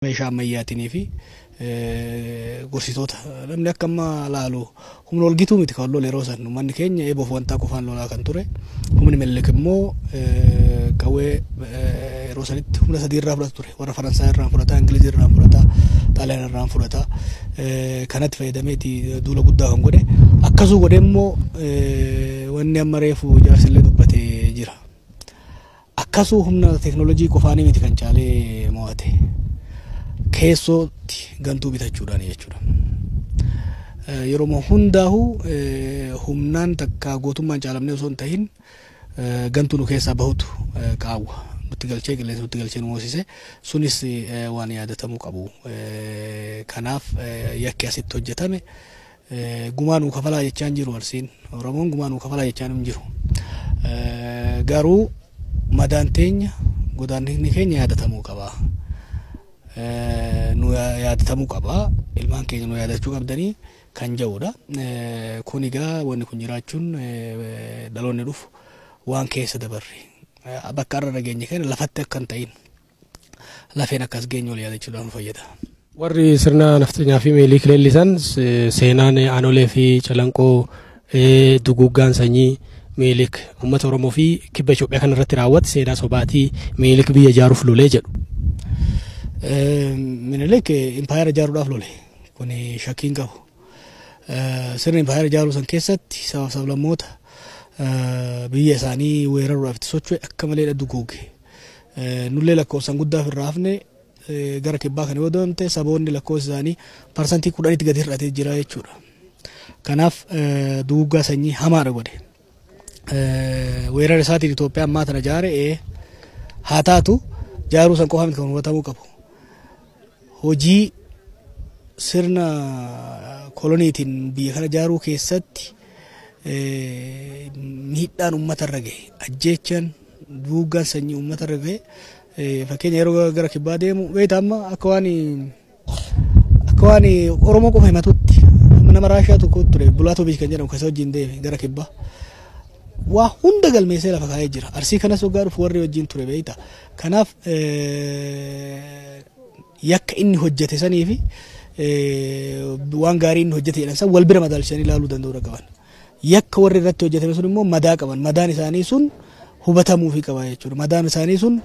meeshaa ammayyaatiin fi gorsitoota namni akka amma laalu humna ol gitu miti kan lola yeroo san uummanni keenya eeboof wantaa qofaan lolaa kan ture humni minilik immoo qawwee yeroo sanitti humna sadii irraa fudhata ture warra faransaa irraa fudhata ingilizii irraa fudhata xaaliyaan irraa fudhata kanatti fayyadameeti duula guddaa kan godhe akkasuu godhe immoo wanni amma reefu jaarsillee dubbate jira. Akkasuu humna teeknoolojii qofaanii miti kan caalee mo'ate. Keessootti gantuu bitachuudhaani jechuudha. Yeroo hundaahu humnaan takkaa gootummaan caalamnee osoo hin tahin gantuu nu keessaa bahutu qaawwa nutti galchee qilleensa nutti galchee nu moosise sunis waan yaadatamuu qabu. Kanaaf yakki asitti hojjetame Gumaa nuu kafalaa jechaa hin jiru Arsiin. Oromoon gumaa nuu kafalaa jechaa hin jiru. Garuu madaan teenya godaannisni keenya yaadatamuu qaba. Nu yaadatamuu qaba. Ilmaan keenya nu yaadachuu qabdanii kan ja'udha. Kun egaa wanni kun jiraachuun dhaloonni dhufu waan keessa dabarre bakka irra dhageenye kana lafatti akka hin ta'in. lafeen akkas geenyu wal yaadachuudhaan nu fayyada. Warri sirna nafxanyaa fi meelii kileellisan seenaan aanolee fi calanqoo duguuggaan sanyii meelik uummata Oromoo fi kibba Itoophiyaa kana irratti raawwate seenaa sobaatii meelik biyya ijaaruuf lolee jedhu. Minilik impaayera ijaaruudhaaf lole kun shakkiin qabu. Sirna impaayera ijaaruu san keessatti sabaaf sablammoota biyya isaanii weeraruudhaaf itti socho'e akka malee duguuge. Nullee lakkoofsan guddaa ofirraa hafne gara kibbaa kana yoo deemte saboonni lakkoofsi isaanii parsantii kudhanitti gadi hir'atee jira jechuudha. Kanaaf duguuggaa sanyii hamaadha godhe. Weerara isaatiin Itoophiyaa ammaa tana jaare haa taatu jaaruu san qofa miti kan hubatamuu qabu. hojii sirna koloniitiin biyya kana ijaaruu keessatti miidhaan uummata irra gahe ajjeechaan duugaan sanyii uummata irra gahe fakkeenya yeroo gara kibbaa deemu beektaa amma akka waan akka waan oromoo qofa himatutti nama raashiyaa tokko ture bulaatoviich kan jedhamu kasa wajjin deeme gara kibbaa waa hunda galmeessee lafa kaa'ee jira arsii kanas waggaa dhufu warri wajjin ture beektaa Kanaaf yakka inni hojjete sanii fi waan gaarii inni hojjete jedhan san wal bira madaalchisanii ilaaluu danda'uudha qaban. Yakka warri irratti hojjetame sun immoo madaa qaban. Madaan isaanii sun hubatamuufi qaba jechuudha. Madaan isaanii sun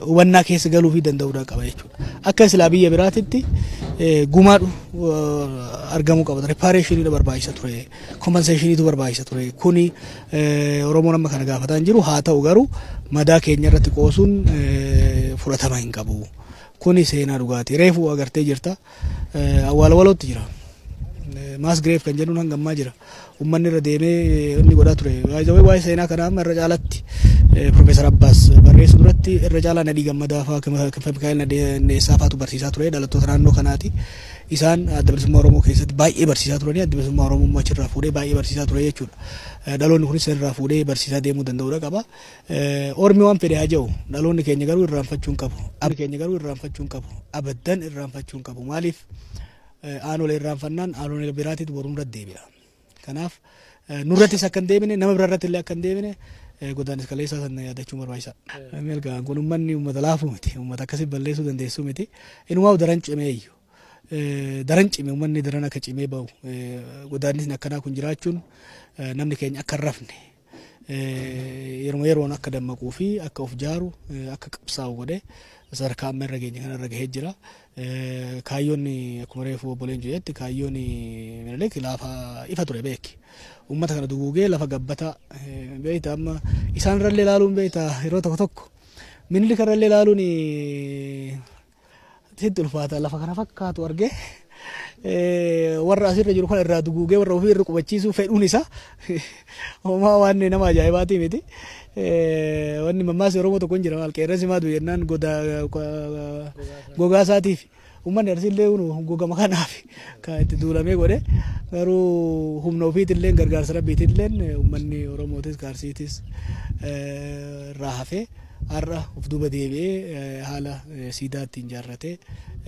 hubannaa keessa galuufi danda'uudha qaba jechuudha. Akka silaa biyya biraatitti gumaadhu argamuu qaba. Ripaareeshiniidha barbaachisa ture. Kompenseeshiniitu barbaachisa ture. Kuni Oromoon amma kana gaafataa hin jiru. Haa ta'u garuu madaa keenya irratti qoosuun fudhatama hin qabu. Kuni seenaa dhugaati. Reefu agartee jirta. Awwaala walootti jira. Maas gireef kan jedhuun hanga ammaa jira. Uummanni irra deemee inni godhaa ture. Waa'ee seenaa kanaa amma irra caalatti Profeesar Abbaas barreessu duratti irra caalaa Nadhii Gammadaa fa'aa Mikaa'el Nadheessaa fa'aatu barsiisaa ture dhalattoota naannoo kanaati. Isaan Adda Bilisummaa Oromoo keessatti baay'ee barsiisaa turanii Addi Bilisummaa Oromoo immoo achirraa fuudhee baay'ee barsiisaa ture jechuudha. Dhaloonni kunis irraa fuudhee barsiisaa deemuu danda'uudha qaba. Ormi waan fedhe haa ja'u dhaloonni keenya garuu irraanfachuu hin qabu. Abdi keenya garuu irraanfachuu hin qabu. Abaddan irraanfachuu hin qabu. Maaliif aanolee irraanfannaan aanolee biraatitti borumra deebi'a. Kanaaf nurrattis akka hin deebine nama bira irratti illee akka hin deebine godaanis kaleessaa sana yaadachuun barbaachisaadha. Milkaa'an kun uummanni uummata laafuu miti. Uummata akkasii balleessuu dandeessuu miti. Inumaa daran cimee iyyuu. Daran cime uummanni daran akka cimee bahu. Godaanisni akkanaa kun jiraachuun namni keenya akka hin rafne. yeruma yeroon akka dammaquu fi akka of jaaru akka qabsaa'u godhe sadarkaa amma irra geenye kana irra gahee jira. Kaayyoon akkuma reefu obboleen jedhetti kaayyoon Minilik laafa ifa ture beeki. Uummata kana duguugee lafa gabbata beekta amma isaan irrallee ilaaluun beekta yeroo tokko tokko Minilik irrallee ilaaluun Sitti ulfaata lafa kana fakkaatu argee warra asirra jiru kan irraa duguugee warra ofii irra qubachiisuu fedhuun isaa homaa waan nama ajaa'ibaatii miti. Wanni mammaasni Oromoo tokko hin jira maal qeerransi maa du'e jennaan gogaa isaatiif uummanni arsiillee gogama kanaaf kan itti duulamee godhe garuu humna ofiitillee gargaarsa rabbiitillee uummanni Oromootis gaarsiitis irraa hafee. Har'a of duuba deebi'ee haala siidaa ittiin ijaarrate,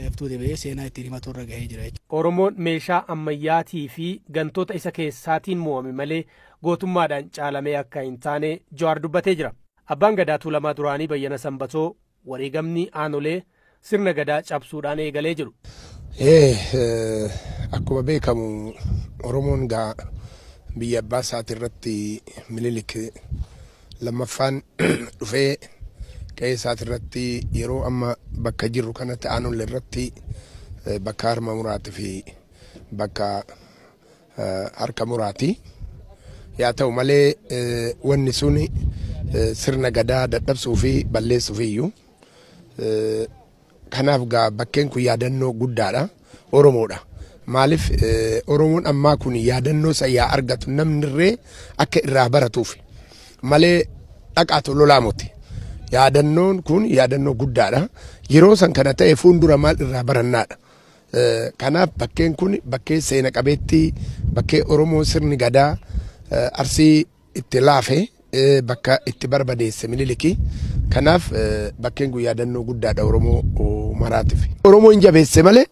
of duuba deebi'ee seenaa ittiin himatu irra gahee jira jechuudha. Oromoon meeshaa ammayyaatii fi gantoota isa keessaatiin moo'ame malee gootummaadhaan caalamee akka hin taane Jawaar dubbatee jira. Abbaan Gadaa Tuulamaa duraanii Bayyana Sanbatoo wareegamni aanolee, sirna Gadaa cabsuudhaan eegalee jedhu. Akkuma beekamu Oromoon egaa biyya abbaa isaati irratti Minilik lammaffaan dhufee qe'ee isaati irratti yeroo amma bakka jirru kanatti aanolle irratti bakka harma muraati fi bakka harka muraati. Yaa ta'u malee wanni sun sirna gadaa dadhabsuu fi balleessuuf iyyuu. Kanaaf gaa bakkeen kun yaadannoo guddaadha. Oromoodha. Maaliif Oromoon ammaa kun yaadannoo isa yaa argatu namni irree akka irraa baratuuf malee dhaqaatu lolaa moti. Yaadannoon kun yaadannoo guddaadha. Yeroo san kana ta'e fuuldura maal irraa barannaadha. Kanaaf bakkeen kun bakkee seena qabeettii bakkee Oromoo sirni gadaa arsii itti laafe bakka itti barbadeesse miniliki kanaaf bakkeen kun yaadannoo guddaadha oromoo maraatiif oromoo hin jabeesse malee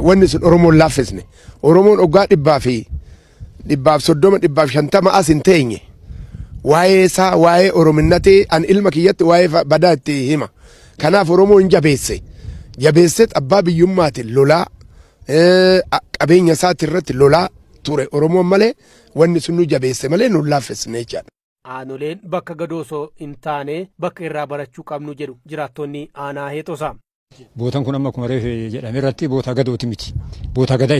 wanni sun oromoon laaffisne oromoon oggaa dhibbaa fi dhibbaaf soddoma dhibbaaf shantama as hin teenye waa'ee isaa waa'ee orominnati an ilma kiyyatti waa'ee badaa itti hima kanaaf oromoo hin jabeesse jabeesseet abbaa biyyummaatiin lolaa qabeenya isaati irratti lolaa ture oromoon malee wanni sun nu jabeesse malee nu laaffisne jechaadha. Aanoleen bakka gadoo osoo hin taane bakka irraa barachuu qabnu jedhu jiraattonni aanaa Heexosaa. Bootan kun amma akkuma reefe jedhame irratti bootaa gadooti miti. Bootaa gadaa.